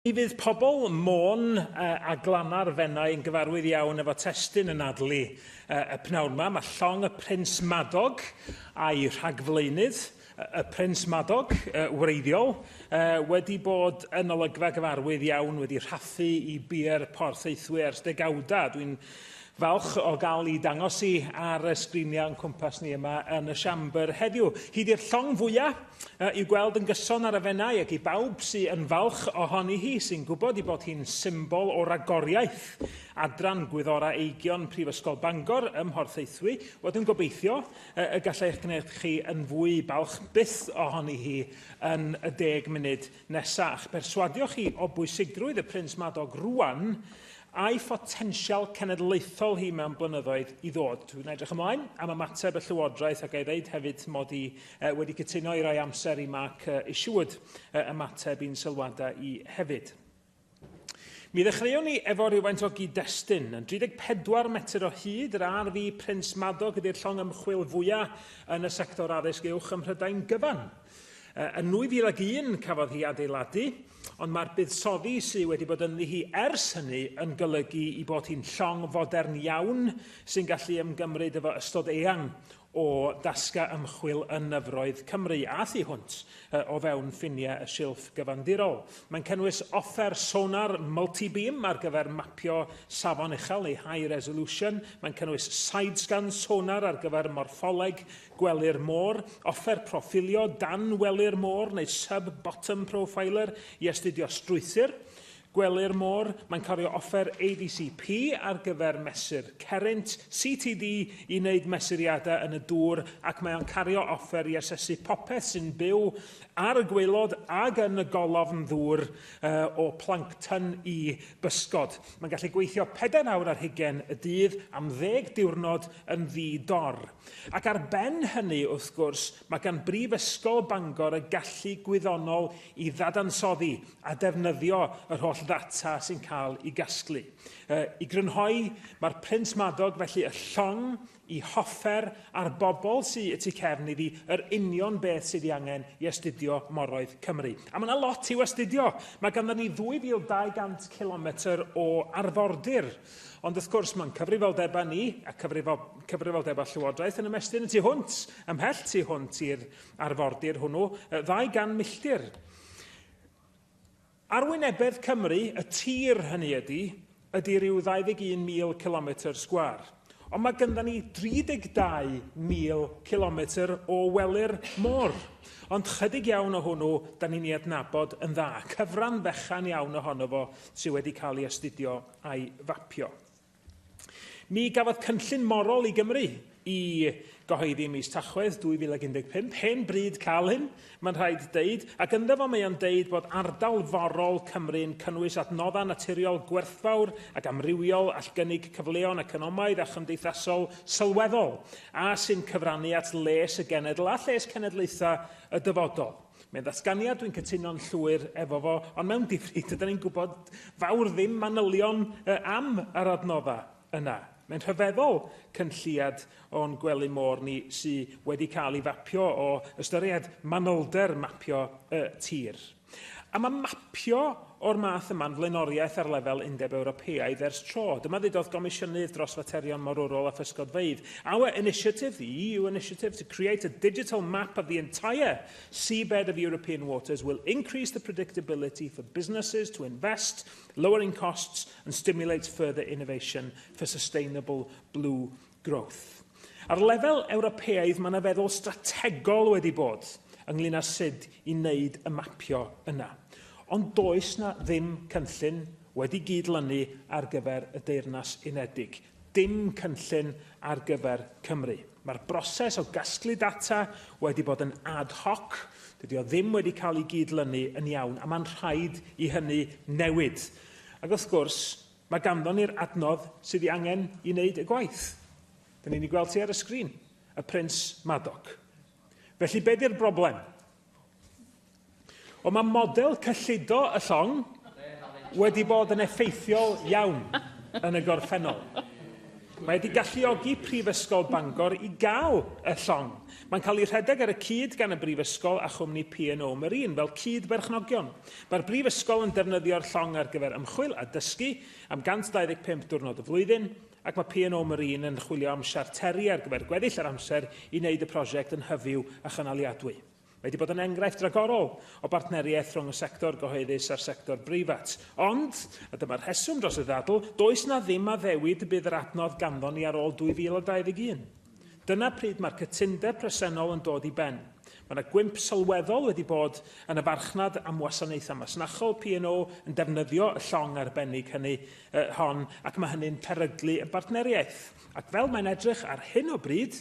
Mi fydd pobl Môn a Glanna'r Fenai yn gyfarwydd iawn efo testun y Nadli y p'nawd 'ma. Mae llong y Prins Madog a'i rhagflaenydd, y Prins Madog, wreiddiol, wedi bod yn olygfa gyfarwydd iawn, wedi rhathu i bier Porthaethwy ers degawdau. Dwi'n Falch o gael i dangos i ar y sgriniau o'n cwmpas ni yma yn y siambr heddiw. Hyd i'r llong fwyaf i'w gweld yn gyson ar y fennau ac i bawb sy'n yn falch ohoni hi sy'n gwybod i bod hi'n symbol o ragoriaeth. Adran Gwyddorau Eigion Prifysgol Bangor ym Mhorthaethwy, wel dwi'n gobeithio y gallai'ch gwneud chi yn fwy balch byth ohoni hi yn y deg munud Nesa, a'ch perswadio chi o bwysigrwydd y Prins Madog rŵan, a'i photensial cenedlaethol hi mewn blynyddoedd i ddod. Dwi'n edrych ymlaen am ymateb y Llywodraeth ac a'i ddeud hefyd mod i uh, wedi cytuno i roi amser i Mark uh, Isherwood uh, ymateb i'n sylwadau i hefyd. Mi ddechreuwn ni efo rhywfaint o gyd-destun. Yn 34 metr o hyd, yr RV Prince Madog ydy'r llong ymchwil fwyaf yn y sector addysg uwch ym Mhrydain gyfan. Yn 2001 cafodd hi adeiladu, ond mae'r buddsoddi sydd wedi bod ynddi hi ers hynny yn golygu i bod hi'n llong fodern iawn sy'n gallu ymgymryd efo ystod eang o dasgau ymchwil yn nyfroedd Cymru a thu hwnt o fewn ffiniau y silff gyfandirol. Mae'n cynnwys offer sonar multi-beam ar gyfer mapio safon uchel neu high resolution, mae'n cynnwys sidescan sonar ar gyfer morffoleg gwely'r môr, offer proffilio dan wely'r môr neu sub-bottom profiler i astudio strwythur, Gwelir mor mae'n cario offer ADCP ar gyfer mesur Cerrynt, CTD, i wneud mesuriadau yn y dŵr ac mae o'n cario offer i asesu popeth sy'n byw ar y gwaelod ag yn y golofn ddŵr uh, o plancton i bysgod. Mae'n gallu gweithio 4 awr ar hugen y dydd am ddeg diwrnod yn ddi-dor. Ac ar ben hynny, wrth gwrs, mae gan Brifysgol Bangor y gallu gwyddonol i ddadansoddi a defnyddio yr holl ddata sy'n cael ei gasglu. E, I grynhoi, mae'r Prins Madog felly y llong i hoffer a'r bobl sy'n y tu cefn iddi yr union beth sydd ei angen i astudio moroedd Cymru. A mae yna lot i'w astudio. Mae ganddo ni 2,200 km o arfordir. Ond wrth gwrs, mae'n cyfrifoldebau ni a cyfrifo, cyfrifoldebau Llywodraeth yn ymestyn y tu hwnt, ymhell tu hwnt i'r arfordir hwnnw, 200 milltir. Arwynebedd Cymru, y tir, hynny ydy, ydy ryw 21,000 cilometr sgwâr. Ond mae gynddon ni 32,000 cilometr o wely'r môr. Ond chydig iawn o hwnnw, da ni'n ei adnabod yn dda. Cyfran fechan iawn ohono fo sydd wedi cael ei astudio a'i fapio. Mi gafodd cynllun morol i Gymru i gyhoeddi ym mis Tachwedd 2015, hen bryd cael hyn, mae'n rhaid deud, ac ynddo fo mae o'n deud bod ardal forol Cymru'n cynnwys adnoddau naturiol gwerthfawr ac amrywiol all gynnig cyfleon economaidd a chymdeithasol sylweddol a sy'n cyfrannu at les y genedl a lles cenedlaethau y dyfodol. Mae'n ddatganiad dwi'n cytuno'n llwyr efo fo, ond mewn difri, dydan ni'n gwybod fawr ddim manylion y am yr adnodda yna. Mae'n rhyfeddol cynlliad o'n gwely môr ni sy wedi cael ei fapio o ystyried manylder mapio y tir. A mae mapio o'r math yma'n flaenoriaeth ar lefel Undeb Ewropeaidd ers tro. Dyma ddudodd Gomisiynydd dros Faterion Morwrol a Physgodfeydd, Our initiative, the EU initiative, to create a digital map of the entire Seabed of European waters will increase the predictability for businesses to invest, lowering costs and stimulates further innovation for sustainable blue growth. Ar lefel Ewropeaidd, mae yna feddwl strategol wedi bod ynglyn â sut i wneud y mapio yna. Ond does na ddim cynllun wedi gyd-lynu ar gyfer y Deyrnas Unedig. Dim cynllun ar gyfer Cymru. Mae'r broses o gasglu data wedi bod yn ad hoc, dydy o ddim wedi cael ei gyd-lynu yn iawn, a mae'n rhaid i hynny newid. Ac wrth gwrs, mae ganddon ni'r adnodd sydd ei angen i wneud y gwaith. Dyn ni'n ei gweld hi ar y sgrin, y Prins Madoc. Felly, be 'di'r broblem? Ond mae model cyllido y llong wedi bod yn effeithiol iawn yn y gorffennol. Mae wedi galluogi Prifysgol Bangor i gael y llong. Mae'n cael ei rhedeg ar y cyd gan y Brifysgol a chwmni P&O Marine fel cyd-berchnogion. Mae'r Brifysgol yn defnyddio'r llong ar gyfer ymchwil a dysgu am 125 diwrnod y flwyddyn, ac mae P&O Marine yn chwilio am siarteri ar gyfer gweddill yr amser i wneud y prosiect yn hyfyw a chynaliadwy. Mae wedi bod yn enghraifft ragorol o bartneriaeth rhwng y sector gyhoeddus a'r sector breifat. Ond, a dyma'r rheswm dros y ddadl, does 'na ddim addewid y bydd yr adnodd ganddon ni ar ôl 2021. Dyna pryd mae'r cytundeb presennol yn dod i ben. Mae yna gwymp sylweddol wedi bod yn y farchnad am wasanaethau masnachol, P&O yn defnyddio y llong arbennig hynny uh, hon, ac mae hynny'n peryglu y bartneriaeth. Ac fel mae'n edrych ar hyn o bryd,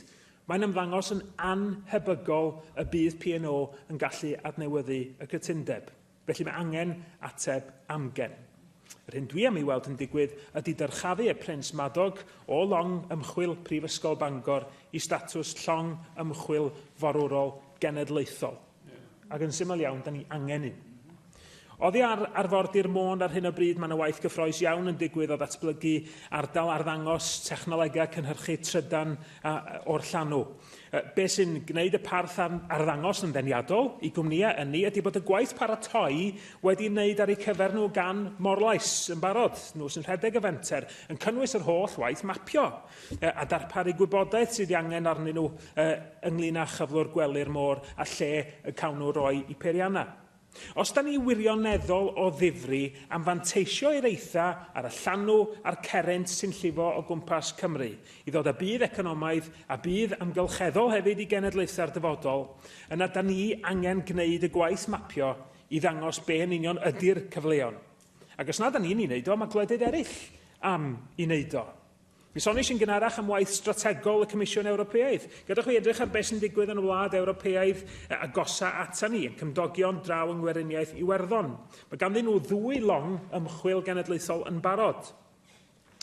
mae'n ymddangos yn anhebygol y bydd P&O yn gallu adnewyddu y cytundeb. Felly mae angen ateb amgen. Yr hyn dwi am ei weld yn digwydd ydy dyrchafu y Prince Madog o long ymchwil Prifysgol Bangor i statws llong ymchwil forwrol genedlaethol. Ac yn syml iawn, da ni angen un. Oddi ar arfordir Môn ar hyn o bryd mae yna waith gyffroes iawn yn digwydd o ddatblygu ardal arddangos, technolegau cynhyrchu trydan a o'r llanw. Be sy'n gwneud y parth ar arddangos yn ddeniadol i gwmnïau ynni ydy bod y gwaith paratoi wedi wneud ar eu cyfer nhw gan Morlais yn barod, nhw sy'n rhedeg y fenter, yn cynnwys yr holl waith mapio a darparu gwybodaeth sydd ei angen arnyn nhw ynglŷn â chyflwr gwely'r môr a lle y cawn nhw roi i peiriannau. Os da ni wirioneddol o ddifri am fanteisio i'r eitha ar y llanw a'r cerrynt sy'n llifo o gwmpas Cymru i ddod â budd economaidd a budd amgylcheddol hefyd i genedlaethau'r dyfodol, yna da ni angen gwneud y gwaith mapio i ddangos be yn union ydi'r cyfleon. Ac os nad da ni'n ei wneud o, mae gwledydd eraill am ei wneud o. Mi soniais yn gynharach am waith strategol y Comisiwn Ewropeaidd. Gadewch fi edrych ar beth sy'n digwydd yn y wlad Ewropeaidd agosaf ata ni, ein cymdogion draw yng Ngweriniaeth Iwerddon. Mae ganddyn nhw ddwy long ymchwil genedlaethol yn barod.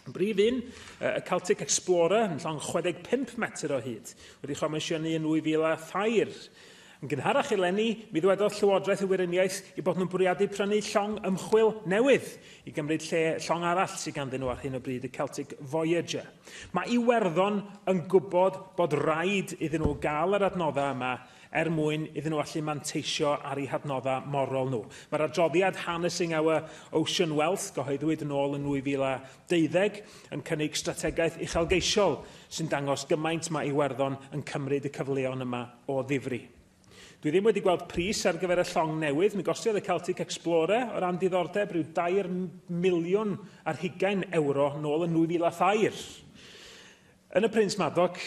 Y brif un, y Celtic Explorer, yn llong 65 metr o hyd, wedi chomisiynu yn 2003. Yn gynharach eleni, mi ddwedodd Llywodraeth y Weriniaeth eu bod nhw'n bwriadu prynu llong ymchwil newydd i gymryd lle llong arall sydd ganddyn nhw ar hyn o bryd, y Celtic Voyager. Mae Iwerddon yn gwybod bod raid iddyn nhw gael yr adnoddau yma er mwyn iddyn nhw allu manteisio ar eu hadnoddau morol nhw. Mae'r adroddiad Harnessing Our Ocean Wealth, gyhoeddwyd yn ôl yn 2012, yn cynnig strategaeth uchelgeisiol sy'n dangos gymaint mae Iwerddon yn cymryd y cyfleon yma o ddifri. Dwi ddim wedi gweld pris ar gyfer y llong newydd, mi gostiodd y Celtic Explorer, o ran diddordeb, rhyw dair miliwn ar hugain ewro nôl yn 2003. Yn y Prince Madoc,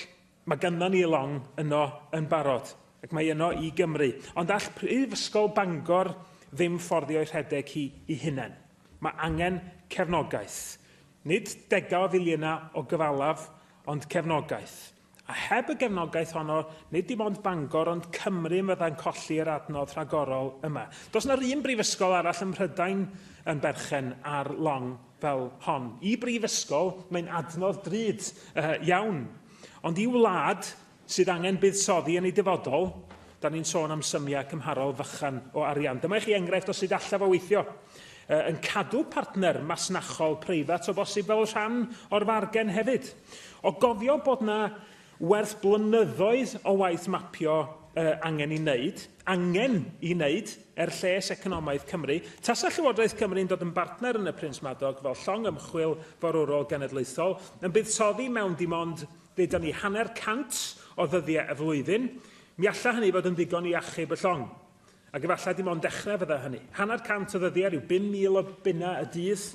mae ganddo ni long yno yn barod, ac mae yno i Gymru. Ond all Prifysgol Bangor ddim fforddio'i rhedeg hi i hunain. Mae angen cefnogaeth. Nid degau o filiynau o gyfalaf, ond cefnogaeth. A heb y gefnogaeth honno, nid dim ond Bangor ond Cymru yn fydda'n colli yr adnodd rhagorol yma. Does 'na 'r un brifysgol arall ym Mhrydain yn berchen ar long fel hon. I brifysgol, mae'n adnodd drud iawn. Ond i wlad sydd angen buddsoddi yn ei dyfodol, 'dan ni'n sôn am symiau cymharol fychan o arian. Dyma i chi enghraifft o sut alla fo weithio. uh, yn cadw partner masnachol preifat o bosib fel rhan o'r fargen hefyd. O gofio bod na werth blynyddoedd o waith mapio uh, angen i wneud, angen i wneud er lles economaidd Cymru, tasa Llywodraeth Cymru'n dod yn bartner yn y Prins Madog fel llong ymchwil forwrol genedlaethol, yn buddsoddi mewn dim ond, ddeudon ni, hanner cant o ddyddiau y flwyddyn, mi alla hynny fod yn ddigon i achub y llong. Ac efallai dim ond dechrau fydda hynny. Hanner cant o ddyddiau, rhyw 5,000 o bunnau y dydd,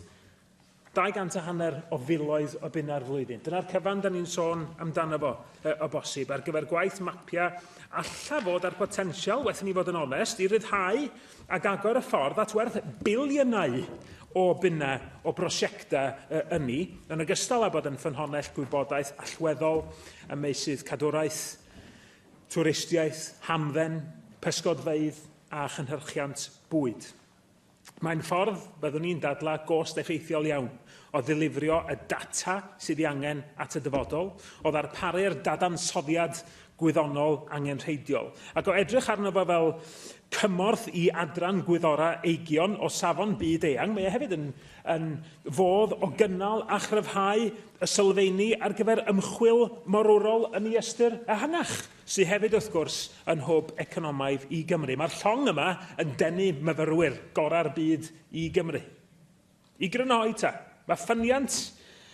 200 a hanner o filoedd o bunnau'r flwyddyn. Dyna'r cyfan da ni'n sôn amdano fo, e, o bosib, ar gyfer gwaith mapio alla fod ar potensial, waeth ni fod yn onest, i ryddhau ac agor y ffordd at werth biliynau o bunnau o brosiectau ynni, yn ogystal â bod yn ffynhonnell gwybodaeth allweddol ym meysydd cadwraeth, twristiaeth, hamdden, pysgodfeydd a chynhyrchiant bwyd. Mae'n ffordd, byddwn i'n dadlau, gost effeithiol iawn o ddilifrio y data sydd ei angen at y dyfodol, o ddarparu'r dadansoddiad gwyddonol angenrheidiol, ac o edrych arno fo fel cymorth i adran gwyddorau eigion o safon byd eang. Mae e hefyd yn, yn fodd o gynnal a chryfhau y sylfeini ar gyfer ymchwil morwrol yn y ystyr ehangach, sy hefyd, wrth gwrs, yn hwb economaidd i Gymru. Mae'r llong yma yn denu myfyrwyr gorau'r byd i Gymru. I grynhoi ta, mae ffyniant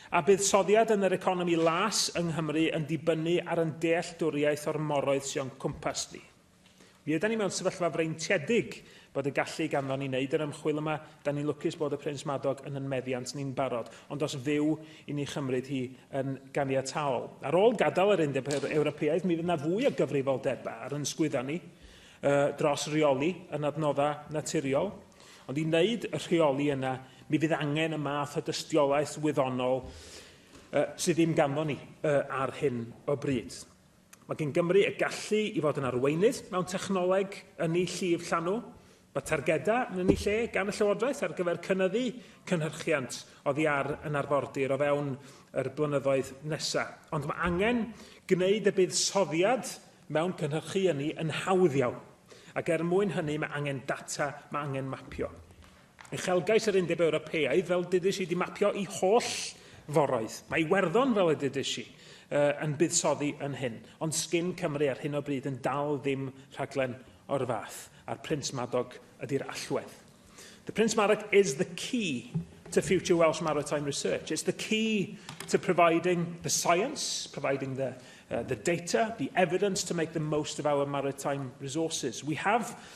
a buddsoddiad yn yr economi las yng Nghymru yn dibynnu ar yn dealltwriaeth o'r moroedd sy o'n cwmpas ni. Mi ydan ni mewn sefyllfa freintiedig bod y gallu ganddo ni wneud yr ymchwil yma, da ni'n lwcus bod y Prins Madog yn yn meddiant ni'n barod, ond os fyw i ni chymryd hi yn ganiataol. Ar ôl gadael yr Undeb Ewropeaidd, mi fydd yna fwy o gyfrifoldebau ar ysgwydda ni uh, dros reoli yn adnoddau naturiol, ond i wneud y rheoli yna, mi fydd angen y math o dystiolaeth wyddonol uh, sydd ddim ganddo ni uh, ar hyn o bryd. Mae gan Gymru y gallu i fod yn arweinydd mewn technoleg ynni llif llanw. Mae targedau yn ynni lle gan y Llywodraeth ar gyfer cynyddu cynhyrchiant oddi ar yn arfordir o fewn yr blynyddoedd nesaf. Ond mae angen gwneud y buddsoddiad mewn cynhyrchu ynni yn hawdd iawn, ac er mwyn hynny mae angen data, mae angen mapio. Uchelgais yr Undeb Ewropeaidd, fel dydis i, di mapio i holl foroedd. Mae Iwerddon, fel y dydis i, yn buddsoddi yn hyn, ond sgin Cymru ar hyn o bryd yn dal ddim rhaglen o'r fath, a'r Prince Madog ydi'r allwedd. The Prince Madog is the key to future Welsh maritime research. It's the key to providing the science, providing the uh, the data, the evidence to make the most of our maritime resources. We have